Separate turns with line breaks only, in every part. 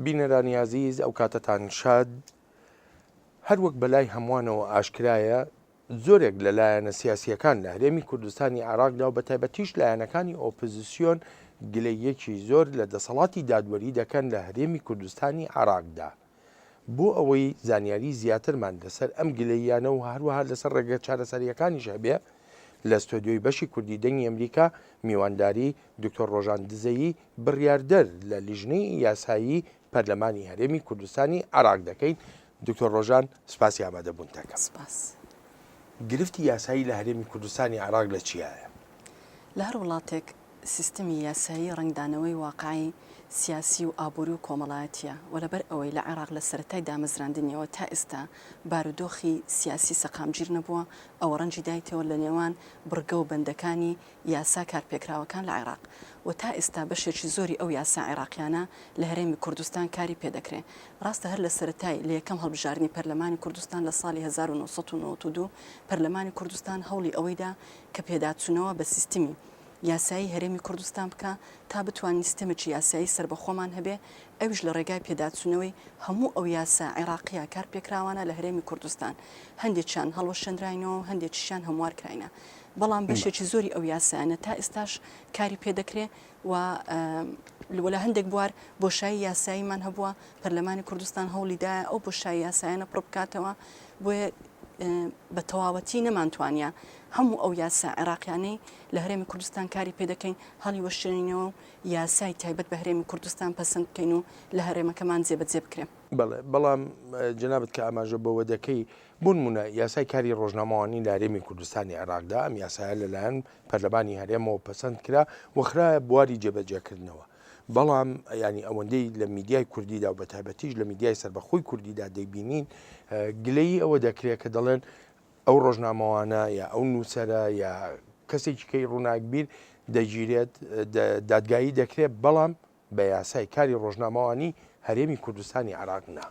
بینەرانی ئازیز ئەو کاتەتان شاد هەر وەک بەلای هەمووانەوە ئاشکرایە زۆرێک لە لایەنە سیاسیەکان لە هەرێمی کوردستانی عراقدا و بە تایبەتیش لایەنەکانی ئۆپزیسیۆن گلەیەکی زۆر لە دەسەڵاتی دادوەری دەکەن لە هەرێمی کوردستانی عراقدا. بۆ ئەوەی زانیاری زیاترمان لەسەر ئەم گلەییانە و هەروەها لەسەر ڕێگە چارەسەریەکانیش هەبێ لە ستۆدیۆی بەشی کوردی دەنگی ئەمریکا میوانداری دکتۆر ڕۆژان دزەیی بڕیاردەر لە لیژنەی یاسایی پەرلەمانی هەرێمی کوردستانی عراق دەکەین دکتۆر ڕۆژان سپاسی ئامادەبوون دەکەم سپاس. گرفتی یاسایی لە هەرێمی کوردستانی عراق لە چیایە؟ لە هەر
وڵاتێک سیستمی یاسایی ڕەنگدانەوەی واقعی سیاسی و ئابووری و کۆمەڵایەتییە و لەبەر ئەوەی لە عێراق لە سەرەتای دامەزراندنیەوە تا ئێستا بارودۆخی سیاسی سەقامگیر نەبووە، ئەوە ڕەنگی دایتەوە لە نێوان بڕگە و بەندەکانی یاسا کارپێکراوەکان لە عێراق و تا ئێستا بەشێکی زۆری ئەو یاسا عێراقیانە لە هەرێمی کوردستان کاری پێ دەکرێ. ڕاستە هەر لە سەرەتای لە یەکەم هەڵبژاردنی پەرلەمانی کوردستان لە ساڵی هەزار و نۆ سەد و نەوەد و دوو پەرلەمانی کوردستان هەوڵی ئەوەی دا کە پێداچوونەوە بە سیستمی یاسایی هەرێمی کوردستان بکا تا بتوانین سیستەمێکی یاسایی سەربەخۆمان هەبێ ئەویش لە ڕێگای پێداچوونەوەی هەموو ئەو یاسا عێراقییە کارپێکراوانە لە هەرێمی کوردستان هەندێکیان هەڵوەشێنراینەوە و هەندێکیشیان هەموار کراینە بەڵام بەشێکی زۆری ئەو یاسایانە تا ئێستاش کاری پێ دەکرێ و لە هەندێک بوار بۆشایی یاساییمان هەبووە پەرلەمانی کوردستان هەوڵیدایە ئەو بۆشایی یاسایانە پڕ بکاتەوە بۆیە بە تەواوەتی نەمانتوانە هەموو ئەو یاسا عێراقیانەی لە هەرێمی کوردستان کاری پێ دەکەین هەڵیوەشێنینەوە و یاسای تایبەت بە هەرێمی کوردستان پەسەند بکەین و لە هەرێمەکەمان جێبەجێ بکرێ. بەڵێ، بەڵام
جەنابت کە ئاماژە بەوە دەکەی، بۆ نموونە یاسای کاری ڕۆژنامەوانی لە هەرێمی کوردستانی عێراقدا، ئەم یاسایە لەلایەن پەرلەمانی هەرێمەوە پەسەند کرا و خرایە بواری جێبەجێکردنەوە، بەڵام یانی ئەوەندەی لە میدیای کوردیدا و بەتایبەتیش لە میدیای سەربەخۆی کوردیدا دەیبینین گلەیی ئەوە دەکرێ کە دەڵێن، ئەو ڕۆژنامەوانە یا ئەو نووسەرە یا کەسێکی کەی ڕووناکبیر دەگیرێت دادگایی دەکرێت بەڵام بە یاسای کاری ڕۆژنامەوانی هەرێمی کوردستانی عێراق نا.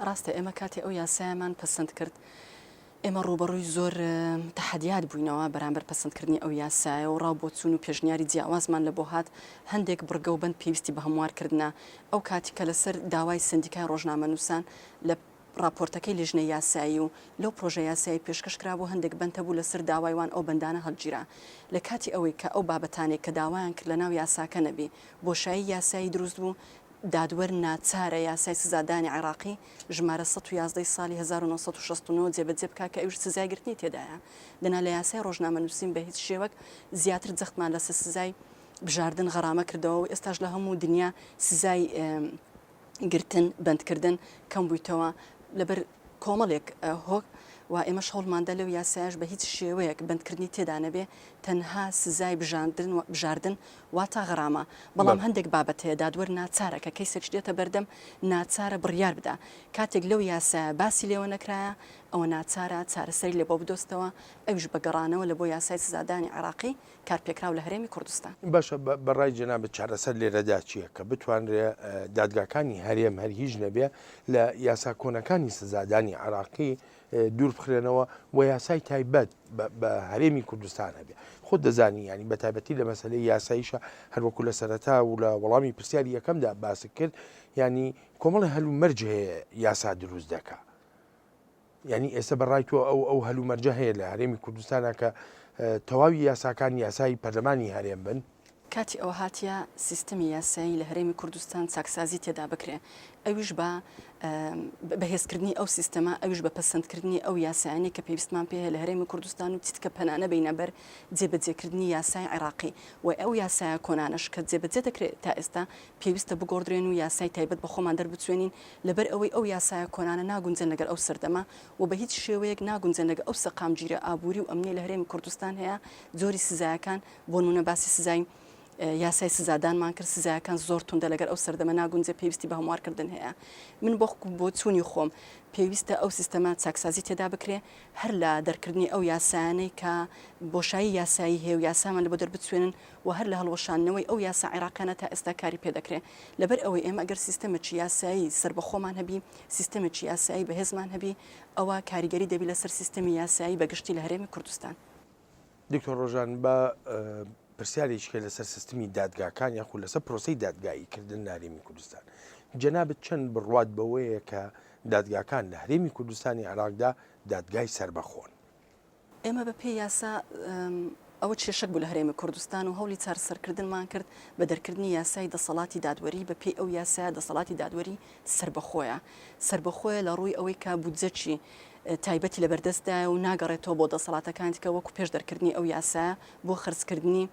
ڕاستە ئێمە کاتێ
ئەو یاسایەمان پەسەند کرد ئێمە ڕووبەڕووی زۆر تەحەدیات بووینەوە بەرامبەر پەسەندکردنی ئەو یاسایە و ڕا و بۆچوون و پێشنیاری جیاوازمان لە بۆ هات، هەندێک بڕگە و بەند پێویستی بە هەموار کردنە، ئەو کاتی کە لەسەر داوای سەندیکای ڕۆژنامەنووسان لە. ڕاپۆرتەکەی لیژنەی یاسایی و لەو پرۆژە یاسایەی پێشکەش کرا بوو هەندێک بەند هەبوو لەسەر داوای وان ئەو بەندانە هەڵگیرا لە کاتی ئەوەی کە ئەو بابەتانەی کە داوایان کرد لەناو یاساکە نەبی بۆشایی یاسایی دروست بوو دادوەر ناچارە یاسای سزادانی عێراقی ژمارە سەد و یازدە ی ساڵی هەزار و نۆ سەد و شەست و نۆ جێبەجێ بکا کە ئەویش سزای گرتنی تێدایە دەنا لە یاسای ڕۆژنامەنووسین بە هیچ شێوەک زیاتر جەختمان لەسەر سزای بژاردن غەرامە کردەوە و ئێستاش لە هەموو دنیا سزای گرتن، بەندکردن کەم بوویتەوە لەبەر کۆمەڵێک هۆک و ئێمەش هەوڵماندا لەو یاسایەش بە هیچ شێوەیەک بەندکردنی تێدا نەبێ تەنها سزای بژاندن و بژاردن واتا غەرامە بەڵام بەڵێ. هەندێک بابەت هەیە دادوەر ناچارە کە کەیسێکش دێتە بەردەم ناچارە بڕیار بدا کاتێک لەو یاسایە باسی لێوە نەکرایە ئەوە ناچارە چارەسەری لێ بۆ بدۆزتەوە ئەویش بە گەڕانەوە لە بۆ یاسای سزادانی عێڕاقی کارپێکراو لە هەرێمی کوردستان. باشە بە ڕای
جەنابت چارەسەر لێرەدا چییە کە بتوانرێ دادگاکانی هەرێم هەر هیچ نەبێ لە یاسا کۆنەکانی سزادانی عراقی دوور بخرێنەوە و یاسای تایبەت بە هەرێمی کوردستان هەبێ خۆ دەزانی ینی بە تایبەتی لە مەسلەی یاساییشە هەروەکو لە سەرەتا و لە وەڵامی پرسیاری یەکەمدا باست کرد ینی کۆمەڵی هەلو مەرج هەیە یاسا دروست دەکە یانی ئێستا بە ڕای تۆ ئەو ئەو هەلومەرجە هەیە لە هەرێمی کوردستانە کە تەواوی یاساکان یاسایی پەرلەمانی هەرێم بن؟ کاتی ئەوە هاتیە
سیستمی یاسایی لە هەرێمی کوردستان چاکسازی تێدا بکرێ ئەویش بە بەهێزکردنی ئەو سیستەمە ئەویش بە پەسەندکردنی ئەو یاسایانەی کە پێویستمان پێ هەیە لە هەرێمی کوردستان و چیتکە پەنا نەبەینە بەر جێبەجێکردنی یاسای عێراقی و ئەو یاسایە کۆنانەش کە جێبەجێ دەکرێ تا ئێستا پێویستە بگۆڕدرێن و یاسای تایبەت بە خۆمان دەربچوێنین لەبەر ئەوەی ئەو یاسایە کۆنانە ناگونجێن لەگەڵ ئەو سەردەمە و بە هیچ شێوەیەک ناگونجێن لەگەڵ ئەو سەقامگیریە ئابووری و ئەمنیە لە هەرێمی کوردستان هەیە جۆری سزایەکان بۆنمونە باسی سزای یاسای سزادانمان کرد سزایەکان زۆر توندە لەگەر ئەو سەردەمە ناگونجێ پێویستی بە هەموار کردن هەیە من بۆ بۆ چوونی خۆم پێویستە ئەو سیستەمە چاکسازی تێدا بکرێ هەر لە دەرکردنی ئەو یاسایانەی کە بۆشایی یاسایی هەیە و یاسامان لە بۆ دەربچوێنن و هەر لە هەڵوەشاندنەوەی ئەو یاسا عێراقیانە تا ئێستا کاری پێ دەکرێ. لەبەر ئەوەی ئێمە گەر سیستەمێکی یاسایی سەربەخۆمان هەبی، سیستەمێکی یاسایی بەهێزمان هەبی، ئەوە کاریگەری دەبی لەسەر سیستەمی یاسایی بە گشتی
لە
هەرێمی کوردستان. دکتۆر ڕۆژان با پرسیارێکی
کە لەسەر سیستمی دادگاکان یاخود لەسەر پرۆسی دادگایی کردن نارێمی کوردستان جەنابەت چەند بڕوات بەوەیە کە دادگاکان لە هەرێمی کوردستانی عراقدا دادگای سربەخۆن ئێمە
بە پێی یاسا ئەوە کێشەک بوو لە هەرێمی کوردستان و هەوڵی چارەسەرکردنمان کرد بە دەرکردنی یاسای دەسەڵاتی دادوەری بە پێی ئەو یاسایە دەسەڵاتی دادوەری سربەخۆیە سربەخۆیە لە ڕووی ئەوەی کە بودجەچی تایبەتی لە بەردەستدایە و ناگەڕێتەوە بۆ دەسەڵاتەکانتیکە وەکو پێش دەرکردنی ئەو یاسایە بۆ خرجکردنی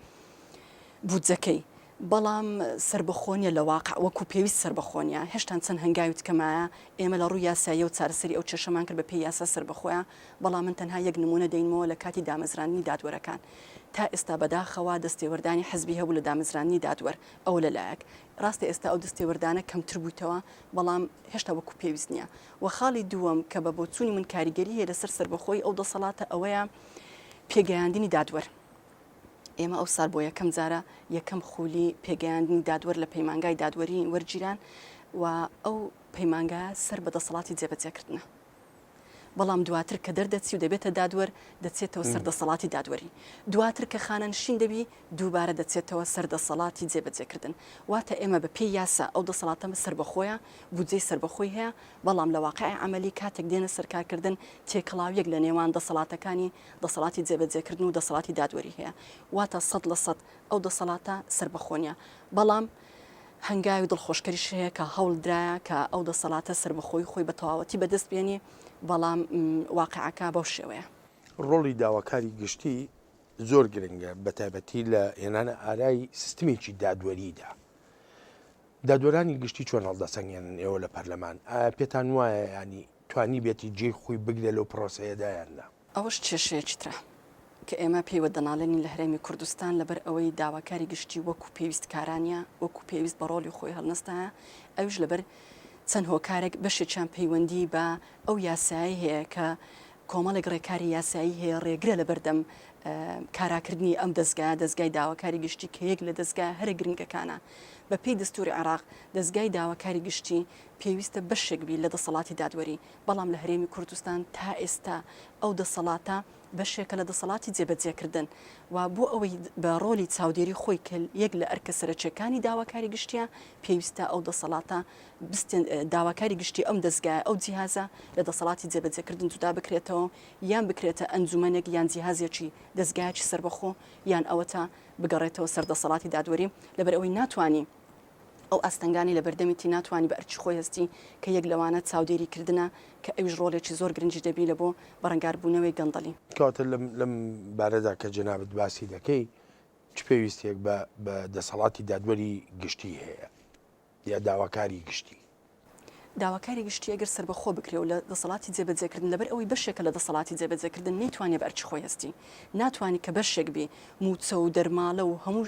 بودجەکەی بەڵام سەربەخۆ نییە لە واقع وەکو پێویست سەربەخۆ نییە، هێشتان چەند هەنگاوی تکە مایە، ئێمە لە ڕووی یاساییە و چارەسەری ئەو کێشەمان کرد بە پێی یاسا سەربەخۆیە، بەڵام من تەنها یەک نموونە دەینمەوە لە کاتی دامەزراندنی دادوەرەکان تا ئێستا بەداخەوە دەستێوەردانی حزبی هەبوو لە دامەزراندنی دادوەر، ئەوە لە لایەک، ڕاستە ئێستا ئەو دەستێوەردانە کەمتر بوویتەوە بەڵام هێشتا وەکو پێویست نییە و خاڵی دووەم کە بە بۆچوونی من کاریگەری هەیە لەسەر سەربەخۆیی ئەو دەسەڵاتە ئەوەیە پێگەیاندنی دادوەر. ئێمە ئەوسال بۆ یەکەم جارە یەکەم خولی پێگەیاندنی دادوەر لە پەیمانگای دادوەری وەرگیران و ئەو پەیمانگا سەر بە دەسەڵاتی جێبەجێکردنە. بەڵام دواتر کە دەردەچی و دەبێتە دادوەر دەچێتەوە سەر دەسەڵاتی دادوەری دواتر کە خانەنشین دەبی دووبارە دەچێتەوە سەر دەسەڵاتی جێبەجێکردن واتە ئێمە بە پێی یاسا ئەو دەسەڵاتەمە سربەخۆیە بودجەی سربەخۆی هەیە بەڵام لە واقعی عملی کاتێک دێنە سەرکارکردن تێکەڵاویەک لە نێوان دەسەڵاتەکانی دەسەڵاتی جێبەجێکردن و دەسەڵاتی دادوەری هەیە، واتە سەد لە سەد ئەو دەسەڵاتە سەربەخۆ نییە، بەڵام هەنگاوی دڵخۆشکەریش هەیە کە هەوڵدرایە کە ئەو دەسەڵاتە سەربەخۆیی خۆی بە تەواوەتی بەدەست بێنی، بەڵام واقیعەکە بەو شێوەیە. ڕۆڵی داواکاری
گشتی زۆر گرنگە، بەتایبەتی لە هێنانەئارای سیستمێکی دادوەریدا. دادوەرانی گشتی چۆن هەڵدەسەنگێنن ئێوە لە پەرلەمان؟ ئایا پێتان وایە یانی توانیبێتی جێی خۆی بگرێ لەو پرۆسەیەدا یان نا. ئەوەش کێشەیەکی
ترە کە ئێمە پێیوە دەناڵێنین لە هەرێمی کوردستان لەبەر ئەوەی داواکاری گشتی وەکو پێویست کارانیە وەکو پێویست بە ڕۆڵی خۆی هەڵنەستایە ئەویش لەبەر چەند هۆکارێک بەشێکیان پەیوەندی بە ئەو یاسایەی هەیە کە کۆمەڵێک ڕێکاری یاسایی هەیە ڕێگرە لە بەردەم کاراکردنی ئەم دەستگایە دەستگای داواکاری گشتی کە یەک لە دەستگای هەرە گرنگەکانە بە پێی دەستوری عێراق دەستگای داواکاری گشتی پێویستە بەشێک بی لە دەسەڵاتی دادوەری، بەڵام لە هەرێمی کوردستان تا ئێستا ئەو دەسەڵاتە بەشێکە لە دەسەڵاتی جێبەجێکردن و بۆ ئەوەی بە ڕۆلی چاودێری خۆی کە یەک لە ئەرکە سەرەکیەکانی داواکاری گشتیە پێویستە ئەو دەسەڵاتە بستێن داواکاری گشتی ئەم دەزگایە ئەو جیهازە لە دەسەڵاتی جێبەجێکردن جودا بکرێتەوە یان بکرێتە ئەنجومەنێک یان جیهازێکی دەزگایەکی سەربەخۆ یان ئەوەتا بگەڕێتەوە سەر دەسەڵاتی دادوەری لەبەر ئەوەی ناتوانی ئەو ئاستەنگانەی لە بەردەمیتی ناتوانی بە ئەرکی خۆی هەستی کە یەک لەوانە چاودێری کردنە کە ئەویش ڕۆڵێکی زۆر گرنگی دەبی لە بۆ بەرەنگار بوونەوەی گەندەڵی. کەواتە لەم
بارەدا کە جەنابت باسی دەکەی چ پێویستیەک بە دەسەڵاتی دادوەری گشتی هەیە یا داواکاری گشتی؟ داواکاری
گشتی ئەگەر سەربەخۆ بکرێ و لە دەسەڵاتی جێبەجێکردن لەبەر ئەوەی بەشێکە لە دەسەڵاتی جێبەجێکردن نەیتوانێ بە ئەرکی خۆی هەستی ناتوانی کە بەشێک بی مووچە و دەرماڵە و هەموو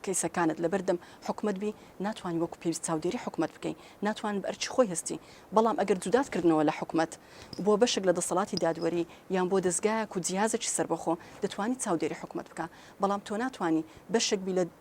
کەیسەکانت لەبەر دەم حکومەت بی ناتوانی وەکو پێویست چاودێری حکومەت بکەی ناتوان بە ئەرکی خۆی هەستی بەڵام ئەگەر جودات کردنەوە لە حکومەت بۆ بەشێک لە دەسەڵاتی دادوەری یان بۆ دەزگایەک و جیهازێکی سەربەخۆ دەتوانی چاودێری حکومەت بکە بەڵام تۆ ناتوانی بەشێک بی لە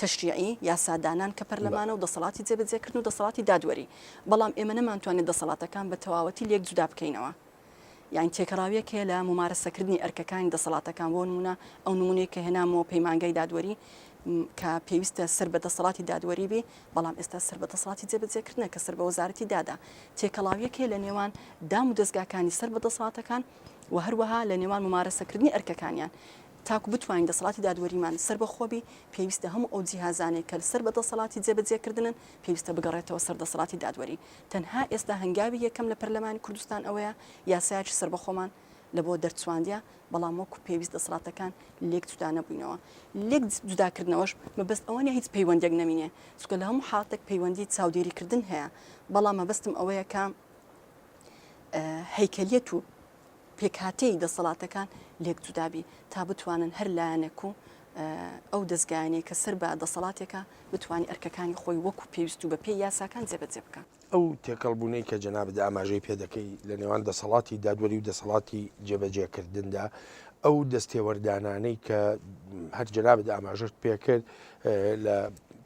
تەشریعی، یاسادانان، کە پەرلەمانە و دەسەڵاتی جێبەجێکردن و دەسەڵاتی دادوەری، بەڵام ئێمە نەمانتوانێت دەسەڵاتەکان بە تەواوەتی لێک جودا بکەینەوە. یانی تێکەڵاوییەک هەیە لە مومارەسەکردنی ئەرکەکانی دەسەڵاتەکان، بۆ نموونە ئەو نموونەی کە هێنامەوە پەیمانگای دادوەری کە پێویستە سەر بە دەسەڵاتی دادوەری بی، بەڵام ئێستا سەر بە دەسەڵاتی جێبەجێکردنە کە سەر بە وەزارەتی دادە. تێکەڵاوییەک هەیە لە نێوان دام و دەزگاکانی سەر بە دەسەڵاتەکان و هەروەها لە نێوان مومارەسەکردنی ئەرکەکانیان. تاکو بتوانین دەسەڵاتی دادوەریمان سەربەخۆ بی، پێویستە هەموو ئەو جیهازانەی کە سەر بە دەسەڵاتی جێبەجێکردنن، پێویستە بگەڕێتەوە سەر دەسەڵاتی دادوەری. تەنها ئێستا هەنگاوی یەکەم لە پەرلەمانی کوردستان ئەوەیە یاسایەکی سەربەخۆمان لە بۆ دەرچواندیە، بەڵام وەکو پێویست دەسەڵاتەکان لێک جودا نەبووینەوە. لێک جوداکردنەوەش مەبەست ئەوە نیە هیچ پەیوەندیەک نەمینێ، چونکە لە هەموو حاڵەتێک پەیوەندی چاودێریکردن هەیە، بەڵام مەبەستم ئەوەیە کە هەیکەلیەت و پێکهاتەی دەسەڵاتەکان لێکجودابی تا بتوانن هەر لایەنێک و ئەو دەزگایانەی کە سەر بە دەسەڵاتێکە بتوانانی ئەرکەکانی خۆی وەکو پێویست و بە پێی یاساکان جێبەجێ بکات. ئەو تێکەڵبوونەی
کە جەنابت ئاماژەی پێدەکەی لە نێوان دەسەڵاتی دادوەری و دەسەڵاتی جێبەجێکردندا ئەو دەستێوەردانانەی کە هەر جەنابت ئاماژەت پێکرد لە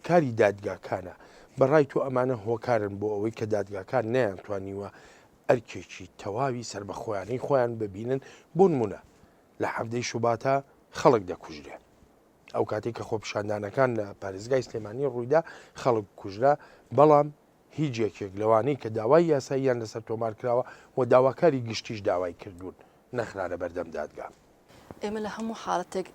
کاری دادگاکانە بەڕای تۆ ئەمانە هۆکارن بۆ ئەوەی کە دادگاکان نیان توانیوە ئەرکێکی تەواوی سەربەخۆیانەی خۆیان ببینن بۆنمونە لە حەڤدەی شوباتا خەڵک دەکوژرێن ئەو کاتێک کە خۆپشاندانەکان لە پارێزگای سلێمانی ڕوویدا خەڵک کوژرا بەڵام هیچ یەکێک لەوانەی کە داوای یاساییان لەسەر تۆمار کراوە و داواکاری گشتیش داوای کردوون نەخرانە بەردەم دادگا ئێمە لە
هەموو حاڵەتێک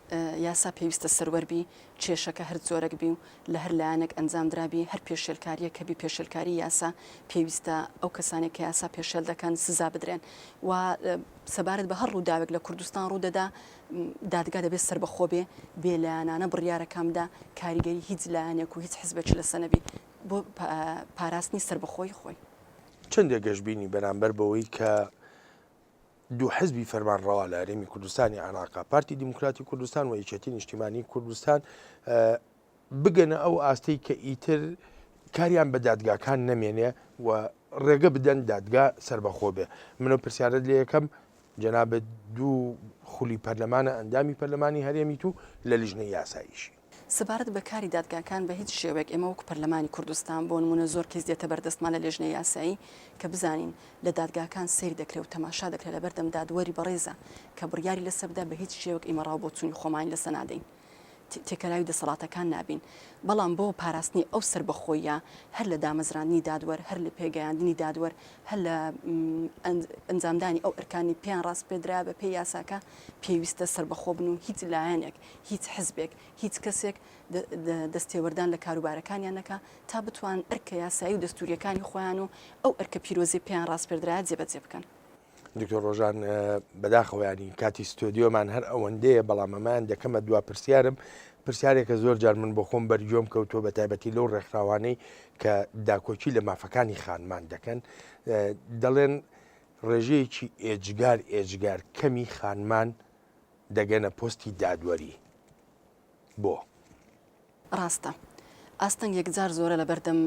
یاسا پێویستە سەروەر بی، کێشەکە هەر جۆرەک بی و لە هەر لایەنێک ئەنجام درابی، هەر پێشێلکارییەک کە بی پێشێلکاری یاسا، پێویستە ئەو کەسانەی کە یاسا پێشێل دەکەن سزا بدرێن و سەبارەت بە هەر ڕووداوێک لە کوردستان ڕوو دەدا دادگا دەبێت سەربەخۆ بێ، بێ لایەنانە بڕیارەکان بدا، کاریگەری هیچ لایەنێک و هیچ حزبێکی لەسە نەبی بۆ پاراستنی سەربەخۆیی خۆی. چەندێ
گەشبینی بەرامبەر بەوەی کە دوو حزبی فەرمانڕەوا لە هەرێمی کوردستانی عێراقا پارتی دیموکراتی کوردستان و یەکێتی نیشتیمانی کوردستان بگەنە ئەو ئاستەی کە ئیتر کاریان بە دادگاکان نەمێنێ و ڕێگە بدەن دادگا سربەخۆ بێ منە پرسیارت لە یەکەم جەنابەت دوو خولی پەرلەمانە ئەندامی پەرلەمانی هەرێمیت و لە لیژنە یاساییشی سەبارەت بە کاری
دادگاکان بە هیچ شێوەیەک ئێمە وەکو پەرلەمانی کوردستان بۆ نموونە زۆر کەیس دێتە بەردەستمان لە لێژنەی یاسایی کە بزانین لە دادگاکان سەیر دەکرێ و تەماشا دەکرێ لەبەردەم دادوەری بەڕێزە کە بڕیاری لەسەر بدا بە هیچ شێوەک ئیمە ڕاو بۆچوونی خۆمانی لەسە نادەین تێکەلاوی دەسەڵاتەکان نابین بەڵام بۆ پاراستنی ئەو سەربەخۆییە هەر لە دامەزراندنی دادوەر هەر لە پێگەیاندنی دادوەر هەر لە ئەنجامدانی ئەو ئەرکانی پێیان ڕاسپێدرا بە پێی یاساکە پێویستە سەربەخۆ بن و هیچ لایەنێک هیچ حزبێک، هیچ کەسێک دەستێوەردان لە کاروبارەکانیان نەکا تا بتوان ئەرکە یاسایی و دەستوورییەکانی خۆیان و ئەو ئەرکە پیرۆزەی پێیان ڕاسپێردرایە جێبەجێ بکەن. دکتۆر ڕۆژان
بەداخەوە ینی کاتی ستۆدیۆمان هەر ئەوەندەیە بەڵام ئەمان دەکەمە دوا پرسیارم پرسیارێکە زۆر جار من بۆ خۆم بەرگۆم کەوتۆ بە تایبەتی لەو ڕێکخراوانەی کە داکۆکی لە مافەکانی خانمان دەکەن دەڵێن ڕێژەیەکی ئێجگار ئێجگار کەمی خانمان دەگەنە پۆستی دادوەری بۆ.
ڕاستە ئاستەنگ یەکجار زۆرە لەبەردەم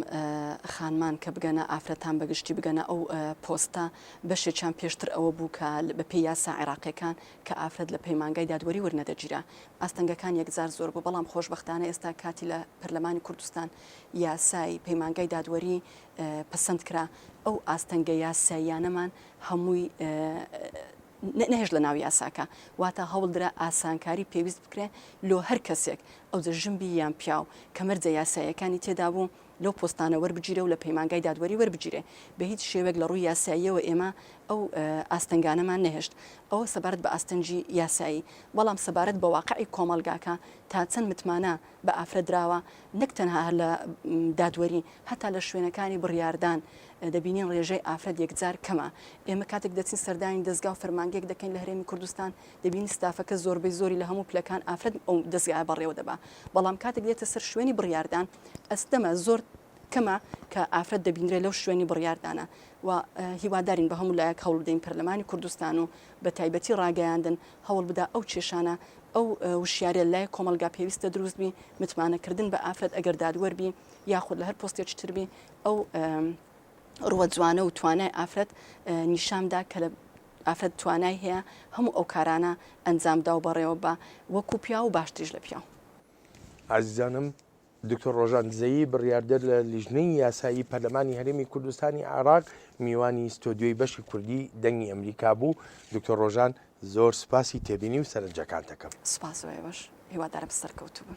خانمان کە بگەنە ئافرەتان بەگشتی بگەنە ئەو پۆستە بەشێکیان پێشتر ئەوە بوو کە بەپێی یاسا عێراقیەکان کە ئافرەت لە پەیمانگای دادوەری ورنەدەگیرا ئاستەنگەکان یەکجار زۆر بوو بەڵام خۆشبەختانە ئێستا کاتی لە پەرلەمانی کوردستان یاسای پەیمانگای دادوەری پەسەند کرا ئەو ئاستەنگە یاساییانەمان هەمووی نەهێشت لەناو یاساکە، واتە هەوڵدرا ئاسانکاری پێویست بکرێ لۆ هەر کەسێک، ئەوجە ژن بی یان پیاو، کە مەرجە یاساییەکانی تێدا بوو لەو پۆستانە وەربگیرێ و لە پەیمانگای دادوەری وەربگیرێ. بە هیچ شێوەیەک لە ڕووی یاساییەوە ئێمە ئەو ئاستەنگانەمان نەهێشت. ئەوە سەبارەت بە ئاستەنگی یاسایی. بەڵام سەبارەت بە واقعی کۆمەڵگاکە تا چەند متمانە بە ئافرەت دراوە، نەک تەنها هەر لە دادوەری، هەتا لە شوێنەکانی بڕیاردان دەبینین ڕێژەی ئافرەت یەکجار کەمە. ئێمە کاتێک دەچین سەردانی دەزگا و فەرمانگەیەک دەکەین لە هەرێمی کوردستان، دەبینین ستافەکە زۆربەی زۆری لە هەموو پلەکان ئافرەت ئەو دەزگایە بەڕێوە دەبا، بەڵام کاتێک دێتە سەر شوێنی بڕیاردان ئەستەمە زۆر کەمە کە ئافرەت دەبینرێ لەو شوێنی بڕیاردانە و هیوادارین بە هەموو لایەک هەوڵ بدەین پەرلەمانی کوردستان و بە تایبەتی ڕاگەیاندن، هەوڵ بدا ئەو کێشانە ئەو وشیاریە لای کۆمەلگا پێویستە دروست بی متمانە کردن بە ئافرەت ئەگەر دادوەر بی یاخود لە هەر پۆستێکی تر بی ئەو ڕوە جوانە و توانای ئافرەت نیشاندا کە لە ئافرەت توانای هەیە هەموو ئەو کارانە ئەنجامدا و بەڕێوە بە وەکو پیاو و باشتریش لە پیاو ئازیزانم
دکتۆر ڕۆژان دزەیی، بڕیاردەر لە لیژنەی یاسایی پەرلەمانی هەرێمی کوردستانی عێراق میوانی ستۆدیۆی بەشی کوردی دەنگی ئەمریکا بوو، دکتۆر ڕۆژان زۆر سوپاسی
تێبینی
و
سەرنجەکانت
دەکەم.
سوپاس و
ئێوەش، هیوادارم
سەرکەوتوو
بن.